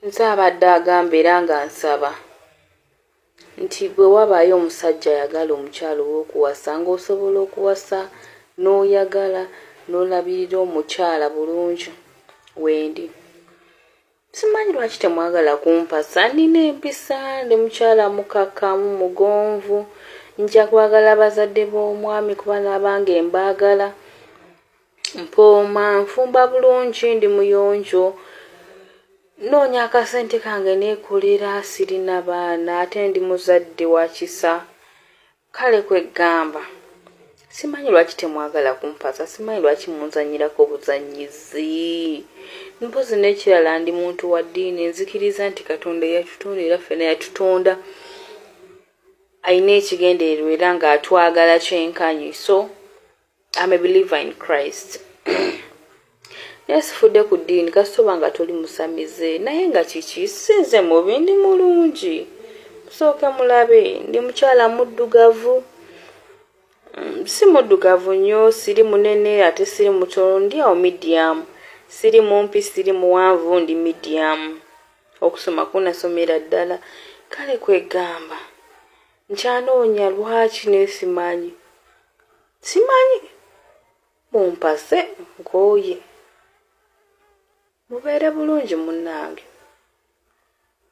Nze abadde agamba era nga nsaba nti bwe wabaayo omusajja ayagala omukyala ow'okuwasa ng'osobola okuwasa n'oyagala n'olabirira omukyala bulungi wendi simanyi lwaki temwagala kumpasa nina empisa ndi mukyala mukakkamu mugonvu nja kwagala bazadde b'omwami kuba n'abange mbaagala Mpooma, nfumba bulungi, ndi muyonjo, nnoonya akasente kange neekolera, sirina baana ate ndi muzadde wa kisa. Kale kwe ggamba simanyi lwaki temwagala kumpasa, simanyi lwaki munzannyirako buzannyizi. Mpozzi n'ekirala ndi muntu wa ddiini, nzikiriza nti Katonda eyatutonda era ffena yatutonda alina ekigendererwa era ng'atwagala kyenkanyi so I'm a believer in Christ naye sifudde ku ddiini kasitoba nga toli musamize naye nga kiki sinze mubi ndi mulungi musooke mulabe ndi mukyala muddugavu mm, si muddugavu nnyo siri munene ate siri mutono ndi awo medium siri mumpi siri muwanvu ndi medium okusoma kunasomera ddala kale kwegamba nkyanoonya lwaki naye simanyi simanyi mumpase nkooye mubeere bulungi munnange